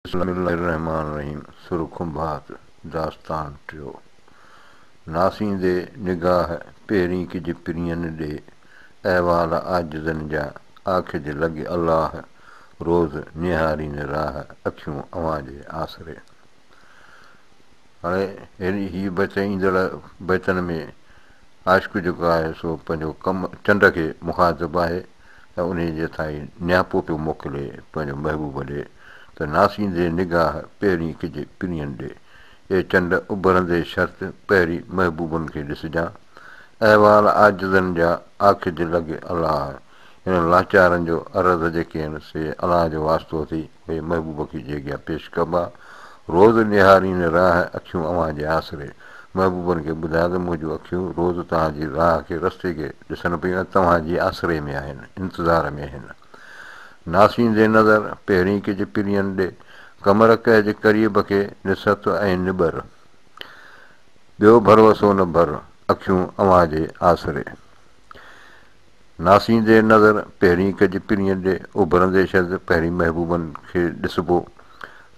بسم الله الرحمٰن الرحيم سر کنڀات داستان ٽيو ناسيندي نگاهه پهرين ڪج پرين ڏي احوال عاجزن جا آکج لڳ الله روز نهارين راهه اکيون اوهان جي آسري هاڻي هي بيت ايندڙ بيتن ۾ عاشق جيڪو آهي سو پنهنجو ڪم چنڊ کي مخاطب آهي. ۽ انهيء جي تائين نياپو پيو موڪلي پنهنجو محبوب ڏي ته ناسيندي نگاهه پهرين ڪجي پرين ڏي اي چنڊ اڀرندي شرط پهرين محبوبن کي ڏسجان احوال عاجزن جا آکج لڳ الله هن لاچارن جو عرض جيڪي هن سي الله جو واسطو اٿئي ۾ محبوب کي جي اڳيان پيش ڪبا. روز نهارين راهه اکيون اوهان جي آسري. محبوبن کي ٻڌايو ته منهنجون اکيون روز توهان جي راهه کي، رستي کي، ڏسن پيون ۽ توهان جي آسري ۾ آهن، انتظار ۾ آهن. ناسيندي نظر پهرين ڪجهه پرين ڏي، قمر ڪهه جي قريب کي، نسهت ۽ نٻر. ٻيو ڀروسو نه ڀر، اکيون اوهان جي آسري. ناسيندي نظر پهرين ڪج پرينء ڏي اڀرندي شد پهرين محبوبن کي ڏسبو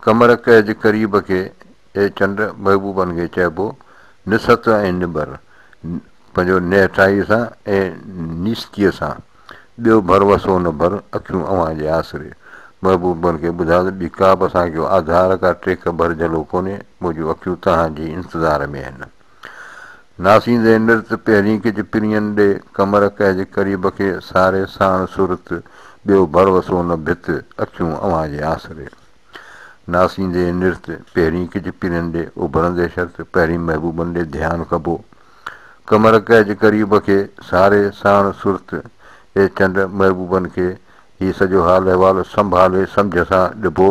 قمر ڪهج قريب کي اي چنڊ محبوبن کي چئبو نسهت ۽ نبر پنهنجو نهٺائي سان اي نيستيء سان ٻيو ڀر وسو نه ڀر اکيون اوهان جي آسري محبوبن کي ٻڌاء ته ٻي ڪابه اسان کي آڌار ڪا ٽيڪ ڀر جهلو ڪونهي منهنجون اکيون توهان جي انتظار ۾ آهن. ناسيندي نرت پهرين ڪج پرين ڏي، ڪمر ڪهه جي قريب کي ساري ساڻ صورت، ٻيو ڀروسو نه ڀت، اکيون اوهان جي آسري. ناسيندي نرت پهرين ڪج پرين ڏي، اڀرندي شرط پهرين محبوبن ڏي ڌيان ڪبو. ڪمر ڪهه جي قريب کي ساري ساڻ صورت، اي چنڊ محبوبن کي هي سڄو حال احوال سنڀالي سمجهه سان ڏبو،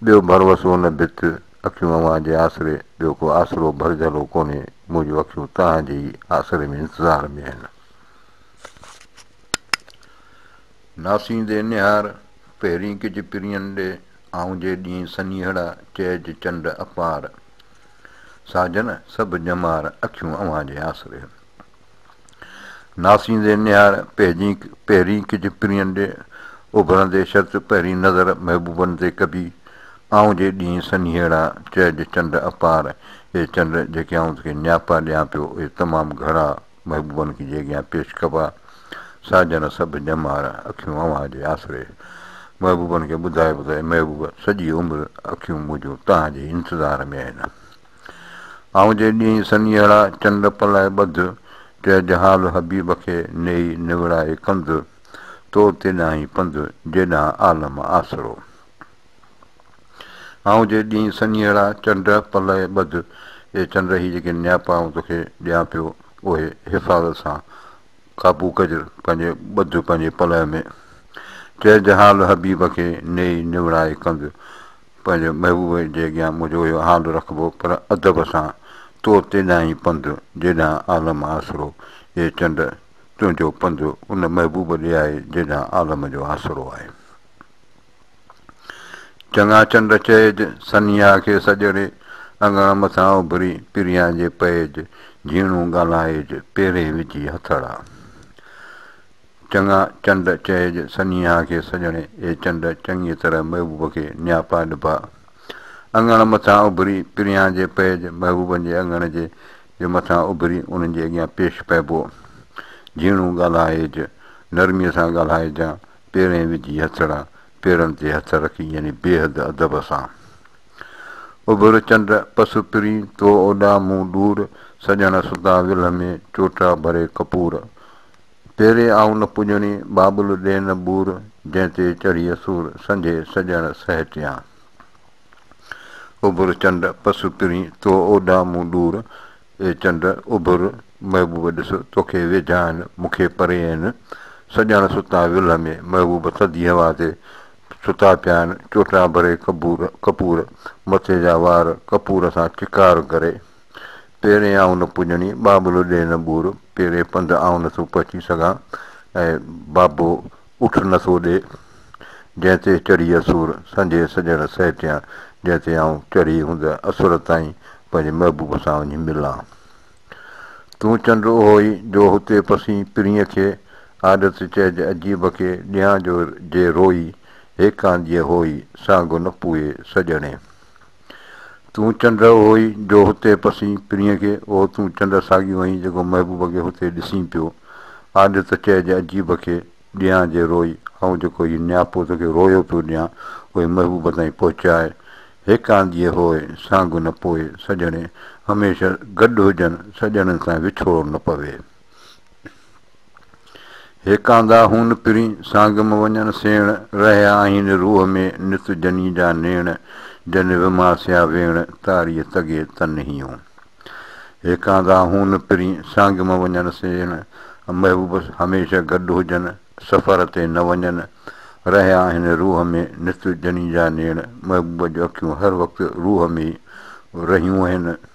ٻيو ڀروسو نه ڀت، اکيون اوهان جي آسري، ٻيو ڪو آسرو ڀرجهلو ڪونهي، مون جون اکيون توهان جي ئي آسري ۾ انتظار ۾ آهن. ناسيندي نهار، پهرين ڪج پرين ڏي، آئون جي ڏينهن سنيهڙا، چئج چنڊ اپار. ساجن سڀ ڄمار، اکيون اوهان جي آسري. ناسيندي نهار پهجين پهرين ڪج پرين ڏي اڀرندي شرط پهرين نظر محبوبن تي ڪبي آئون جي ڏينهن سنهيڙا چئج چنڊ اپار اي چنڊ جيڪي آئون توکي نياپا ڏيان پيو اي تمام گهڻا محبوبن کي جي اڳيان پيش ڪبا سا جن سڀ ڄمار اکيون اوهان جي آسري محبوبن کي ٻڌائبو ته اي محبوب سڄي عمر اکيون منهنجون توهان جي انتظار ۾ آهن. آئون جي ڏينهن سنيهڙا چنڊ پلائي ٻڌ، چئه جهال حبيب کي نيئي نوڙائي ڪنڌ، تو تيڏانهين پنڌ جيڏانهن عالم آسرو. آئون جي ڏينهن سنيهڙا چنڊ پلائي ٻڌ، اي چنڊ هي جيڪي نياپا آئون توکي ڏيان پيو اهي حفاظت سان قابو ڪجر پنهنجي ٻڌ پنهنجي پلئه ۾، چئه جهال حبيب کي نيئي نوڙائي ڪنڌ، پنهنجي محبوب جي اڳيان منهنجو اهو حال رکبو پر ادب سان تو تيڏانهن ئي پنڌ جيڏانهن عالم آسرو اي چنڊ تنهنجو پنڌ ان محبوب ڏي آهي جيڏانهن عالم جو آسرو آهي چڱا چنڊ چئج سنيها کي سڄڻي اڱڻ مٿان اڀري پريان جي پئج جهيڻون ڳالهائج پيرين وجهي هٿڙا. چڱا چنڊ چئج سنيها کي سڄڻي، اي چنڊ چڱيء طرح محبوب کي نياپا نڀاء. اڱڻ مٿان اڀري پريان جي پئج، محبوبن جي اڱڻ جي جي مٿان اڀري انهن جي اڳيان پيش پئبو. جهيڻو ڳالهائج، نرميء سان ڳالهائجان، پيرين وجهي هٿڙا، پيرن تي هٿ رکي يعني بيحد ادب سان. اڀر چنڊ پس پرين، تو اوڏا مون ڏور، سڄڻ ستا ولهه ۾ چوٽا ڀري ڪپور. پيري آئون نه پڄڻي، بابل ڏي نه ٻور، جنهن تي چڙهي اسور، سنجهي سڄڻ سهيٽيان. اڀر چنڊ پس پرين، تو اوڏان مون ڏور، اي چنڊ اڀر، محبوب ڏس، توکي ويجها آهن، مون کي پري آهن، سڄڻ ستا ولهه ۾، محبوب ٿڌي هوا تي ستا پيا آهن، چوٽان ڀري ڪپور، مٿي جا وار ڪپور سان چڪار ڪري. پيرين آئون نه پڄڻي، ٻاٻلو ڏي نه ٻور، پيرين پنڌ آئون نٿو پهچي سگهان، ۽ ٻاٻو اٺ نٿو ڏي، جنهن تي چڙهي اسور، سنجهي سڄڻ سهيٽيان، جنهن تي آئون چڙهي هوند اسور تائين پنهنجي محبوب سان وڃي ملان. تون چنڊ اهو ئي، جو هتي پسين پرينء کي، آڏت چئج عجيب کي، ڏيان جو جي روئي، هيڪان ڏيئي هوئي، سانگهه نه پوئي سڄڻي. تون چنڊ هئي جو هتي پسين پرينء کي، او تون چنڊ ساڳيو هئين جيڪو محبوب کي هتي ڏسين پيو، آڏ ته چئجي عجيب کي ڏيان جي روئي، آئون جيڪو هي نياپو توکي روئيو پيو ڏيان، اهي محبوب تائين پهچاء، هيڪ آنديء هوء سانگهه نه پوئي، سڄڻي هميشه گڏ هجن، سڄڻن سان وڇوڙو نه پوي. هيڪاندا هون پرين، سانگم وڃن سيڻ، رهيا آهن روح ۾ نت جني جا نيڻ، جن وماسيا ويڻ، تاريء تڳي تنهيون. هيڪاندا هون پرين، سانگم وڃن سيڻ، محبوب هميشه گڏ هجن، سفر تي نه وڃن، رهيا آهن روح ۾ نت جني جا نيڻ، محبوب جون اکيون هر وقت روح ۾ ئي رهيون آهن،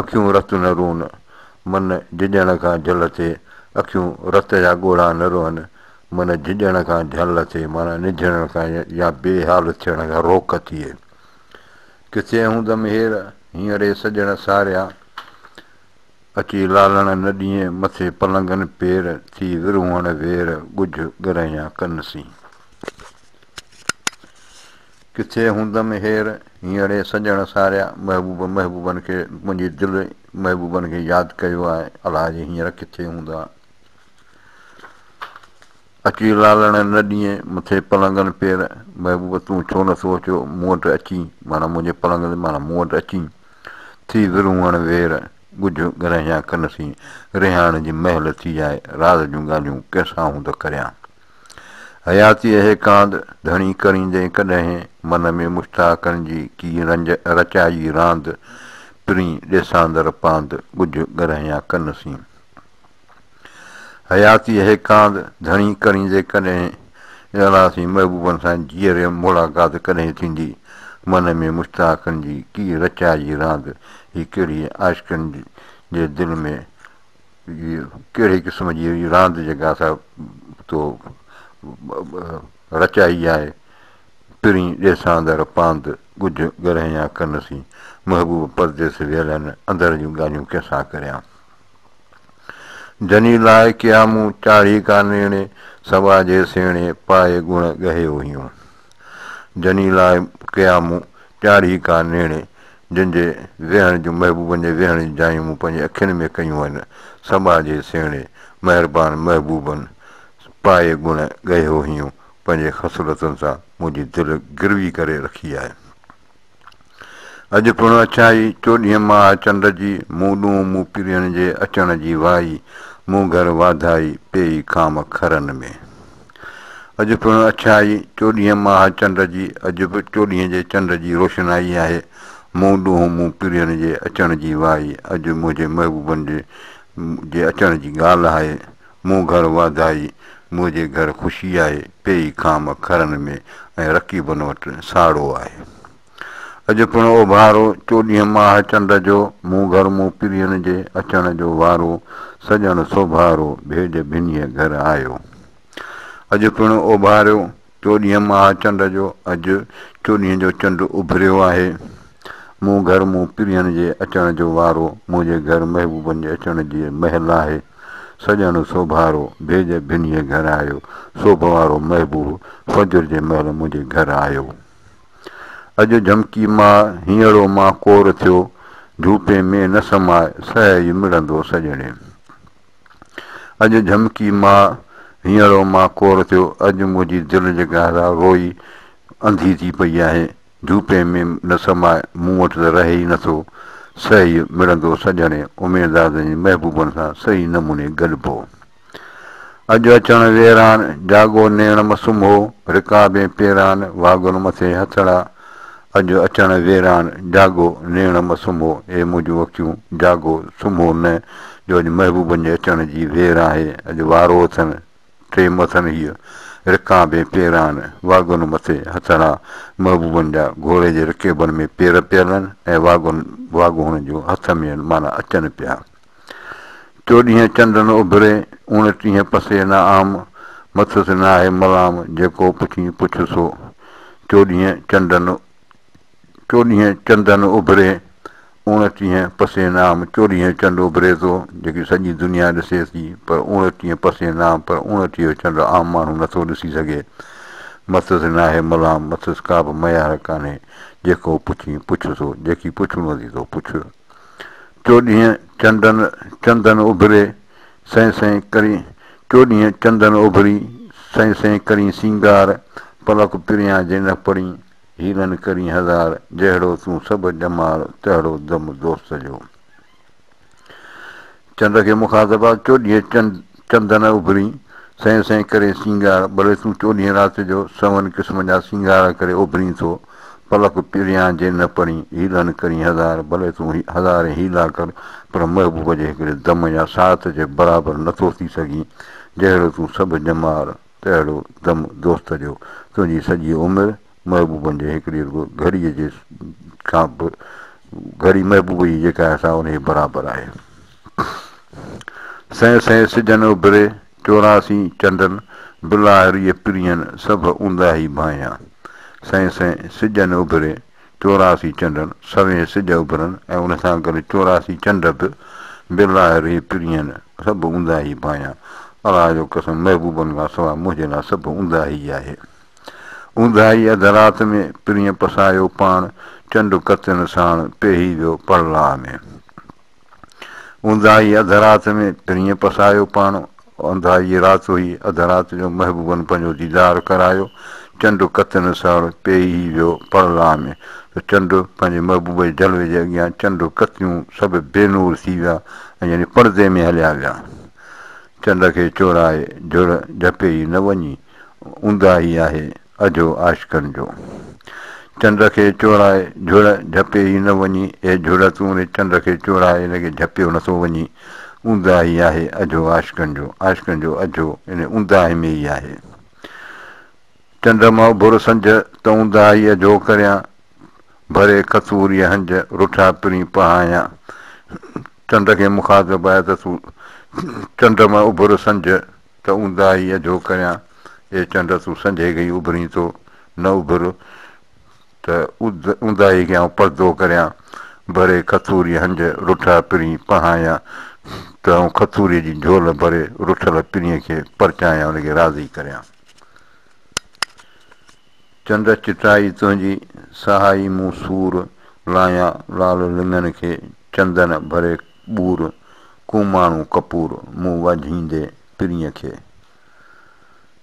اکيون رت نه روئن، من جهڄڻ کان جهل ٿئي، اکيون رت جا ڳوڙها نه روئن، من جهڄڻ کان جهل ٿئي معنيٰ نجهڙڻ کان يا بي حال ٿيڻ کان روڪ ٿئي. ڪٿي هوندم هير، هينئري سڄڻ ساريا، اچي لالڻ نه ڏينء مٿي پلنگن پير، ٿي ورهونء وير، ڳجهه ڳرهيان ڪن سين. ڪٿي هوندم هير هينئڙي سڄڻ ساريا محبوب محبوبن کي منهنجي دل محبوبن کي ياد ڪيو آهي الها جي هينئر ڪٿي هوندا اچي لالڻ نه ڏينهن مٿي پلنگن پير محبوب تون ڇو نه ٿو اچو مون وٽ اچي مانا منهنجي پلنگ تي مانا مون وٽ اچي ٿي ورونهڻ وير ڳجهه گرهيان ڪن سين رهاڻ جي مهل ٿي آهي راز جون ڳالهيون ڪنهن سان هوند ڪريان. حياتيء هي ڪاند ڌڻي ڪريندين ڪڏهن من ۾ مشتاقن جي ڪي رنج رچائي راند پرين ڏيساندر پاند ڳجهه ڳرهيان ڪن سين حياتيء هي ڪاند ڌڻي ڪريندي ڪڏهن اهڙا سين محبوبن سان جيئري ملاقات ڪڏهن ٿيندي من ۾ مشتاقن جي ڪي رچائي راند هي ڪهڙي عاشقن جي دل ۾ هيء ڪهڙي قسم جي راند جيڪا سا تو رچائي آهي، پرين ڏيساندر پاند ڳجهه ڳرهيان ڪن سين، محبوب پرديس ويل هن اندر جون ڳالهيون ڪنهن سان ڪريان. جني لاء ڪيا مون چاڙهي ڪا نيڻي، سوا جي سيڻي پائي ڳڻ ڳهيو هيون. جني لاء ڪيا مون چاڙهي ڪا نيڻي. جن جي ويهڻ جون محبوبن جي ويهڻ جون جايون مون پنهنجي اکين ۾ ڪيون آهن، سماجي سهڻي، مهربان محبوبن پائي گڻ ڳهي هوهيون پنهنجي خصلتن سان منهنجي دل گروي ڪري رکي آهي. اڄ پڻ اڇائي چوڏهين ماهه چنڊ جي مون ڏونهن مون پرينء جي اچڻ جي وائي مون گهر واڌائي پيئي خام خرن ۾. اڄ پڻ اڇائي چوڏهينء ماهه چنڊ جي، اڄ به چوڏهينء جي چنڊ جي روشنائي آهي، مون ڏونهون مون پرين جي اچڻ جي وائي، اڄ منهنجي محبوبن جي جي اچڻ جي ڳالهه آهي، مون گهر واڌائي، منهنجي گهر خوشي آهي، پيئي خام کهرن ۾، ۽ رقيبن وٽ ساڙو آهي. اڄ پڻ اوڀارو چوڏهين ماهه چنڊ جو، مون گهر مون پرين جي، اچڻ جو وارو، سڄڻ سوڀارو، ڀيڄ ڀنيء گهر آيو. اڄ پڻ اوڀاريو چوڏهين ماهه چنڊ جو، اڄ چوڏهين جو چنڊ اڀريو آهي، مون گهر مون پرين جي، اچڻ جو وارو، منهنجي گهر محبوبن جي اچڻ جي مهل آهي، سڄڻ سوڀارو، ڀيڄ ڀنيء گهر آيو، سوڀوارو محبوب فجر جي مهل منهنجي گهر آيو. اڄ جهمڪي ماء، هينئڙو ماء ڪور ٿيو، جهوپي ۾ نه سماء، سهائي مڙندو سڄڻي. اڄ جهمڪي ماء، هينئڙو ماء ڪور ٿيو، اڄ منهنجي دل جي گهرا روئي انڌي ٿي پئي آهي، جهوپي ۾ نه سماء، مون وٽ ته رهي ئي نٿو، سهائي مڙندو سڄڻي. اميدازن جي محبوبن سان صحيح نموني گڏبو. اڄ اچڻ ويران، جاڳو نيڻ مسوم هو، رڪابين پيران، واڳون مٿي هٿڙا. اڄ اچڻ ويران، جاڳو نيڻ مسوم هو، اي منهنجون اکيون، جاڳو سمهو نه، جو اڄ محبوبن جي اچڻ جي وير آهي، اڄ وارو اٿن، ٽيم اٿن هيء، رڪابين پيران، واڳون مٿي هٿڙا، محبوبن جا گهوڙي جي رڪيبن ۾ پير پيل آهن ۽ واڳون واڳون هنن جون هٿ ۾ آهن، معنيٰ اچن پيا. چوڏهين چنڊ نه اڀري، اوڻٽيهين پسي نه عام، مٿس ناهي ملام، جيڪو پڇين پڇ سو. چوڏهين چنڊ نه چوڏهين چنڊ نه اڀري، اوڻٽيهين پسي نه عام، چوڏهين چنڊ اڀري ٿو، جيڪي سڄي دنيا ڏسي ٿي، پر اوڻٽيهين پسي نه عام، پر اوڻٽيهو چنڊ عام ماڻهو نه ٿو ڏسي سگهي. مٿس ناهي ملام، مٿس ڪابه ميار ڪانهي، جيڪو پڇين پڇ سو، جيڪي پڇڻو اٿئي سو پڇ. چوڏهين چنڊن چندن اڀري، سهي سهي ڪرين چوڏهين چندن اڀري، سهي سهي ڪرين سينگار، پلڪ پريان جي نه پڙين، هيلن ڪرين هزار، جهڙو تون سڀ ڄمار، تهڙو دم دوست جو. چنڊ کي مخاطبا، چوڏهين چنڊ چندن اڀرين، سئين سئين ڪرين سينگار، بلي تون چوڏهين رات جو، سون قسم جا سينگار ڪري اڀرين ٿو، پلڪ پريان جي نه پرين، حيلن ڪرين هزار، بلي تون هزارين حيلا ڪر، پر محبوب جي هڪڙي دم يا ساعت جي برابر نه ٿو ٿي سگهين، جهڙو تون سڀ ڄمار، تهڙو دم دوست جو، تنهنجي سڄي عمر، محبوبن جي هڪ ڏينهن رڳو گهڙيء جي کان به گهڙي محبوب ئي جيڪا آهي سا انهيء برابر آهي. سهي سهي سجهن اڀري، چوراسي چنڊن، بلاهريء پرينهن، سڀ اونداهي ڀانئيان. سهي سهي سجهن اڀري، چوراسي چنڊن، سوين سج اڀرن ۽ ان سان گڏ چوراسي چنڊ به، بلاهريء پرينهن، سڀ اونداهي ڀانئيان. الله جو قسم! محبوبن کان سواء منهنجي لاء سڀ اونداهي ئي آهي. اونداهي اڌ رات ۾، پرينء پسايو پاڻ، چنڊ ڪتين ساڻ، پيهي ويو پڙلاء ۾. اونداهي اڌ رات ۾، پرينء پسايو پاڻ، اونداهي رات هئي، اڌ رات جو محبوبن پنهنجو ديدار ڪرايو، چنڊ ڪتين ساڻ، پيهي ويو پڙلاء ۾، ته چنڊ پنهنجي محبوب جي جلوي جي اڳيان چنڊ ڪتيون سڀ بي نور ٿي ويا ۽ يعني پڙدي ۾ هليا ويا. چنڊ کي چورائي جهڙ جهپي ئي نه وڃي. اونداهي آهي اجهو عاشقن جو. چنڊ کي چورائي جهڙ جهپي ئي نه وڃي، اي جهڙ تون ان چنڊ کي چورائي ان کي جهپيو نه ٿو وڃي. اونداهي آهي اجهو عاشقن جو. عاشقن جو اجهو ان اونداهي ۾ ئي آهي. چنڊ مان اڀر سنج ته اونداهي اجهو ڪريان، ڀري کٿوريء هنج رٺا پرين پهايان. چنڊ کي مخاطب آهي ته تون چنڊ مان اڀر سنج. ته اونداهي اجهو ڪريان، اي چنڊ تون سنجهي گهي اڀرين ٿو، نه اڀر ته اونداهي کي آئون پردو ڪريان، ڀري کٿوري هنج رٺا پرين پهايان ته آئون کٿوري جي جهول ڀري رٺل پرين کي پرچايان ان کي راضي ڪريان. چنڊ چٽائي تنهنجي سهائي مون سور لايان لال لڱن کي چندن ڀري ٻور، ڪو ماڻهو ڪپور، مون وجهيندي پرينء کي.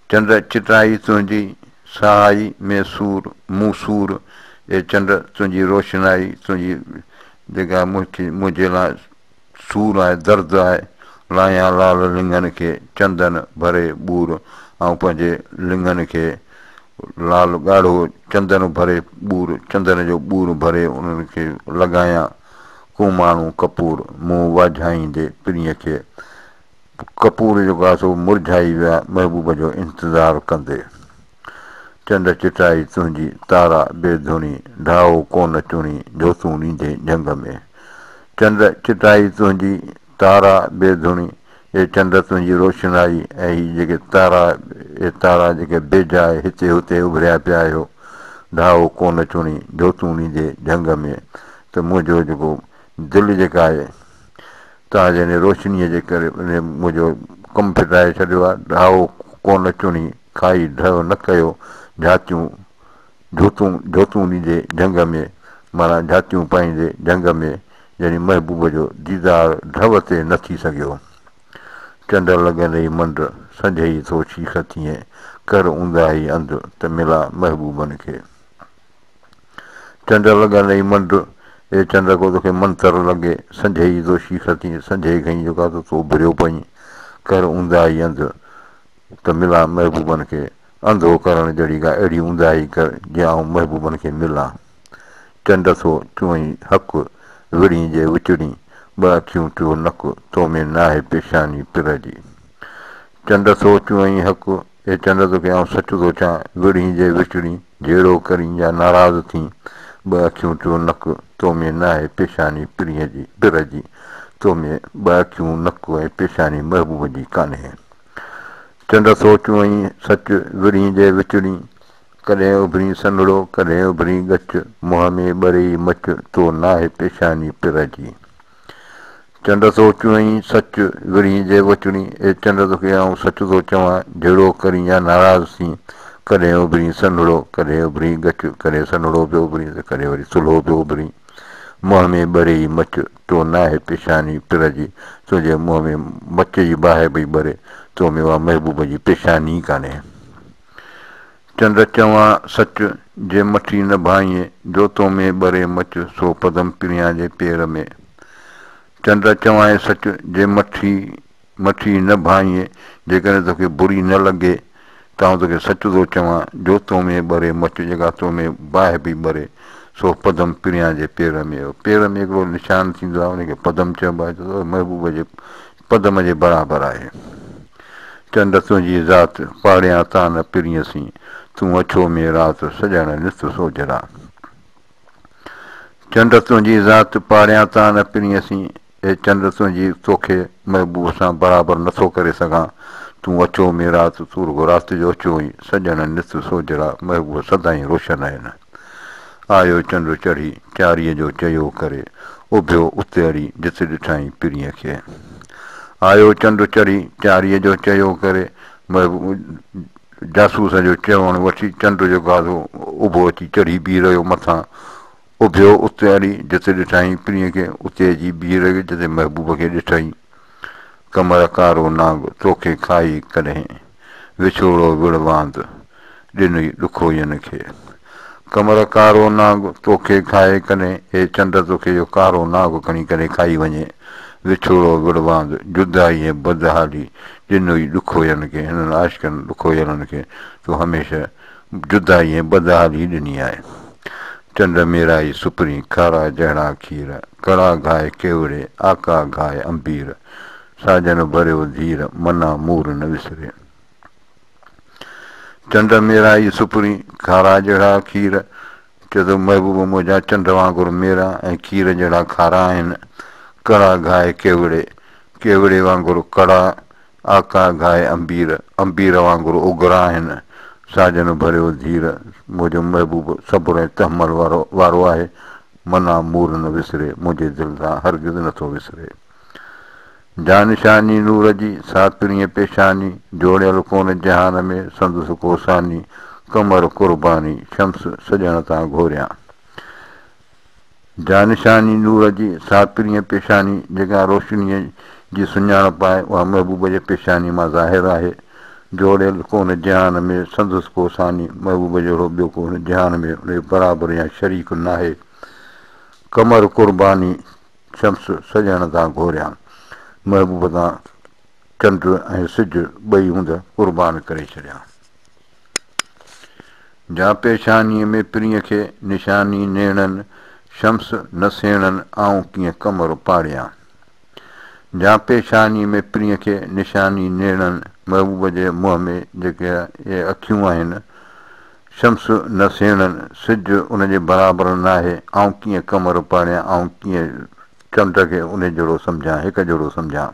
چنڊ چٽائي تنهنجي، سهائي مين سور، مون سور، اي چنڊ تنهنجي روشنائي، تنهنجي جيڪا منهنجي لاء سور آهي، درد آهي، لاهيان لال لڱن کي، چندن ڀري ٻور، آئون پنهنجي لڱن کي لال ڳاڙهو چندن ڀري ٻور، چندن جو ٻور ڀري انهن کي لڳايان، ڪو ماڻهو ڪپور منهن واجهائيندي پرينء کي ڪپور جو گاسو مرجهائي ويا محبوب جو انتظار ڪندي چنڊ چٽائي تنهنجي تارا بي ڌڻي ڍائو ڪونه چڻي جهوتون ڏيندي جهنگ ۾ چنڊ چٽائي تنهنجي تارا بي ڌڻي، اي چنڊ تنهنجي روشنائي ۽ هي جيڪي تارا، اي تارا جيڪي بي جاء هتي هتي اڀريا پيا آهيو، ڌاهو ڪو نه چڻي جو تون ڏيندي جهنگ ۾ ته منهنجو جيڪو دل جيڪا آهي تنهنجي ان روشنيء جي ڪري منهنجو ڪم ڦٽائي ڇڏيو آهي، ڌاهو ڪو نه چڻي کائي ڍء نه ڪيو جهاتيون جھوتون جھوتون ڏيندي جھنگ ۾، معنيٰ جھاتيون پائيندي جھنگ ۾، يعني محبوب جو ديدار ڍؤ تي نه ٿي سگھيو. چنڊ لڳن رھي منڊ، سنجھيئي ٿو شيخ ٿيين، ڪر اونداھي انڌ، ته ملان محبوبن کي. چنڊ لڳن رھي منڊ، اي چنڊ ڪو توکي منتر لڳي، سنجھيئي ٿو شيخ ٿيين، سنجھي کئين جيڪا ته تو ڀريو پئين، ڪر اونداھي انڌ، ته ملان محبوبن کي. انڌو ڪرڻ جهڙي ڪا اهڙي اونداهي ڪر جي آئون محبوبن کي ملان. چنڊ ٿو چوئين حق، وڙهين جي وچڙين ٻه اکيون ٽيو نڪ، تو ۾ ناهي پيشاني پرء جي. چنڊ ٿو چوئين حق، اي چنڊ توکي آئون سچ ٿو چان، وڙهين جي وچڙين جهيڙو ڪرين يا ناراض ٿين، ٻه اکيون ٽيو نڪ، تو ۾ ناهي پيشاني پرء جي، تو ۾ ٻه اکيون، نڪ ۽ پيشاني محبوب جي ڪانهي. چنڊ سوچون ۽ سچ، ورهين جي وچڙين، ڪڏهن اڀرين سنهڙو، ڪڏهن اڀرين ڳچ، منهن ۾ ٻري ئي مچ، تو ناهي پيشاني پرهه جي. چنڊ سوچون ۽ سچ، ورهين جي وچڙين، اي چنڊ توکي آئون سچ ٿو چوان، جهيڙو ڪرين يا ناراض ٿين، ڪڏهن اڀرين سنهڙو، ڪڏهن اڀرين ڳچ، ڪڏهن سنهڙو پيو اڀرين ته ڪڏهن وري سلهو پيو اڀرين، منهن ۾ ٻري ئي مچ، تو ناهي پيشاني پرهه جي، تنهنجي منهن ۾ مچ جي باهه پئي ٻري، تو ۾ اها محبوب جي پيشاني ئي ڪانهي. چنڊ چوان سچ، جي مٺي نه ڀانئين، جو تو ۾ ٻري مچ، سو پدم پريان جي پير ۾. چنڊ چوانء سچ، جي مٺي. مٿي نه ڀانئين، جيڪڏهن توکي بري نه لڳي ته آئون توکي سچ ٿو چوان، جو تو ۾ ٻري مچ جيڪا تو ۾ باهه پئي ٻري، سو پدم پريان جي پير ۾ هو. پير ۾ هڪڙو نشان ٿيندو آهي، ان کي پدم چئبو آهي، ته اهو محبوب جي پدم جي برابر آهي. چنڊ تنهنجي ذات، پاڙيان تان پرينء سين، تون اڇو ۾ رات، سڄڻ نت سوجهرا. چنڊ تنهنجي ذات، پاڙيان تان پرينء سين، اي چنڊ تنهنجي توکي محبوب سان برابر نه ٿو ڪري سگهان تون اچو ۾ رات تون رڳو رات جو اچو ۽ سڄڻ نت سوجهڙا محبوب سدائين روشن آهن آيو چنڊ چڙهي چاريء جو چيو ڪري اڀيو اتي اڙي جت ڏٺائين پرينء کي آيو چنڊ چڙهي چاريء جو چيو ڪري محبوب جاسوس جو چوڻ وٺي چنڊ جو گاڌو اڀو اچي چڙهي بيهي رهيو مٿان اڀيو اتي اڙي جتي ڏٺائين پرينء کي، اتي اچي بيهه رڳ جتي محبوب کي ڏٺائين. قمر ڪارو نانگ توکي کائي ڪڏهن، وڇوڙو وڙهه واند ڏنئي ڏکوئين کي. قمر ڪارو نانگ توکي کائي ڪڏهن، اي چنڊ توکي اهو ڪارو نانگ کڻي ڪڏهن کائي وڃي، وڇوڙو وڙهه واند جدائي ۽ بدحالي ڏنئي ڏکوئين کي، هنن عاشقن ڏکويلن کي تون هميشه جدائي ۽ بدحالي ڏني آهي. چنڊ ميرائي سپرين، کارا جهڙا کير، ڪڙا گهائي ڪيوڙي، آقا گهائي امبير، ساجن ڀريو ڌير، منا مور نه وسري. چنڊ ميرائي سپرين، کارا جهڙا کير، چئي ٿو محبوب منهنجا چنڊ وانگر ميرا ۽ کير جهڙا کارا آهن، ڪڙا گهائي ڪيوڙي، ڪيوڙي وانگر ڪڙا، آقا گاهي امبير، امبير وانگر اگرا آهن، ساجن ڀريو ڌير، منهنجو محبوب صبر ۽ تحمل وارو آهي، منا مور نه وسري، منهنجي دل سان هرگز نٿو وسري. جانشاني نور جي، ساڪڻيء پيشاني، جوڙيل ڪونه جهان ۾ سندس ڪو ثاني، قمر قرباني، شمس سڄڻ تان گهوريان. جانشاني نور جي ساڪرينء پيشاني جيڪا روشنيء جي سڃاڻپ آهي، اها محبوب جي پيشاني مان ظاهر آهي. جوڙيل ڪونهن جهان ۾، سندس ڪو ثاني، محبوب جهڙو ٻيو ڪو هن جهان ۾، ان جو برابر يا شريڪ ناهي. قمر قرباني شمس سڄڻ تان گهوريان، محبوب تان چنڊ ۽ سج ٻئي هنڌ قربان ڪري ڇڏيان. جا پيشانيء ۾ پرينء کي نشاني نيڻن، شمس نه سيڻن آئون ڪيئن قمر پاڙيان. جا پيشانيء ۾ پرينء کي نشاني نيڻن، محبوب جي منهن ۾ جيڪي اهي اکيون آهن، شمس نه سيڻن، سج ان جي برابر ناهي، آئون ڪيئن قمر پاڙيان، آئون ڪيئن چنڊ کي انهي جهڙو سمجهان، هڪ جهڙو سمجهان.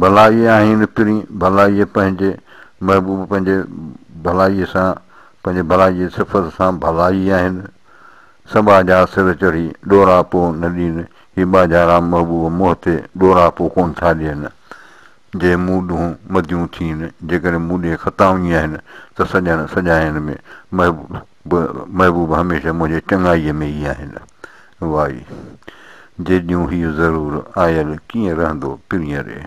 ڀلائي آهين وڪڻي ڀلائي پنهنجي محبوب پنهنجي ڀلائي سان پنهنجي ڀلائي جي صفت سان ڀلائي آهين سٻاء جا سر چڙهي ڏوراپو نه ڏين هي ٻاجهارا محبوب منهن تي ڏوراپو ڪونه ٿا ڏين جي مون ڏونهن مديون ٿين جيڪڏهن مون ڏي خطائون ئي آهن ته سڄڻ سڄائين ۾ محبوب به محبوب هميشه منهنجي چڱائيء ۾ ئي آهن. واء! جيڏيون هيء ضرور آيل ڪيئن رهندو پرينء ري.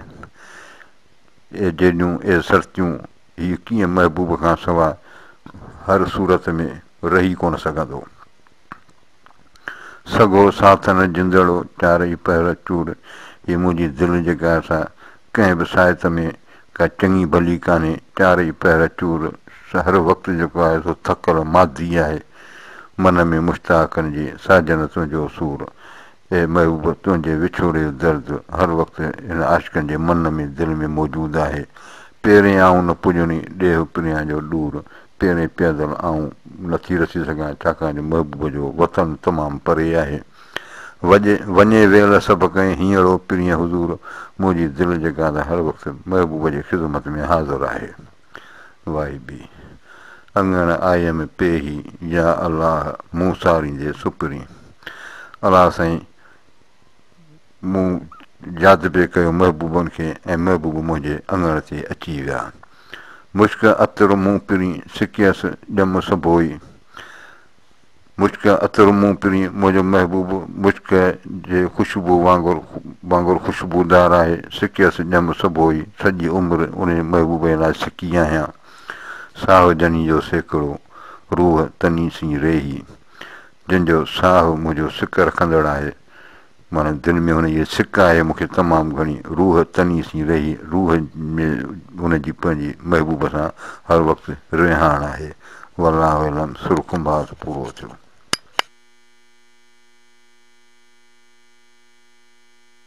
اي جيڏيون اي سرتيون هيء ڪيئن محبوب کان سواء هر صورت ۾ رهي ڪونه سگهندو. سگهو ساٿ نه جندڙو چار ئي پهر چور هي منهنجي دل جيڪا سا ڪنهن به ساهت ۾ ڪا چڱي ڀلي ڪانهي چار ئي پهر چور هر وقت جيڪو آهي سو ٿڪل مادي آهي من ۾ مشتاقن جي ساجن تنهنجو سور اي محبوب تنهنجي وڇوڙي جو درد هر وقت هن عاشقن جي من ۾ دل ۾ موجود آهي پيرين آئون نه پڄڻي ڏيهه پريان جو ڏور تيڙي پيدل آئون نه ٿي رسي سگهان، ڇاڪاڻ جو محبوب جو وطن تمام پري آهي. وڄي وڃي ويل سڀ ڪنهن هينئڙو پرينء حضور، منهنجي دل جي گانڌ هر وقت محبوب جي خدمت ۾ حاضر آهي. وائي بي. اڱڻ آيم پيهي، يا الله مون ساريندي سپرين. الله سائين! مون جاذبي ڪيو محبوبن کي ۽ محبوب منهنجي اڱڻ تي اچي ويا. مشڪ عطر مون پرين سڪيس ڄم سڀوئي مشڪ عطر مون پرين منهنجو محبوب مشڪ جي خوشبو وانگر وانگر خوشبودار آهي سڪيس ڄم سڀوئي سڄي عمر انهي محبوب جي لاء سڪي آهيان ساهه جني جو سيڪڙو روح تني سين ريهي. جنھن جو ساھه منھنجو سڪ رکندڙ آھي، معنيٰ دل ۾ ھن جي سڪ آھي، مون کي تمام گھڻي روح تني سين رھي، روح ۾ ھن جي پنھنجي محبوب سان ھر وقت رھاڻ آھي. والله اعلم سر ڪنڀاز پورو ٿيو.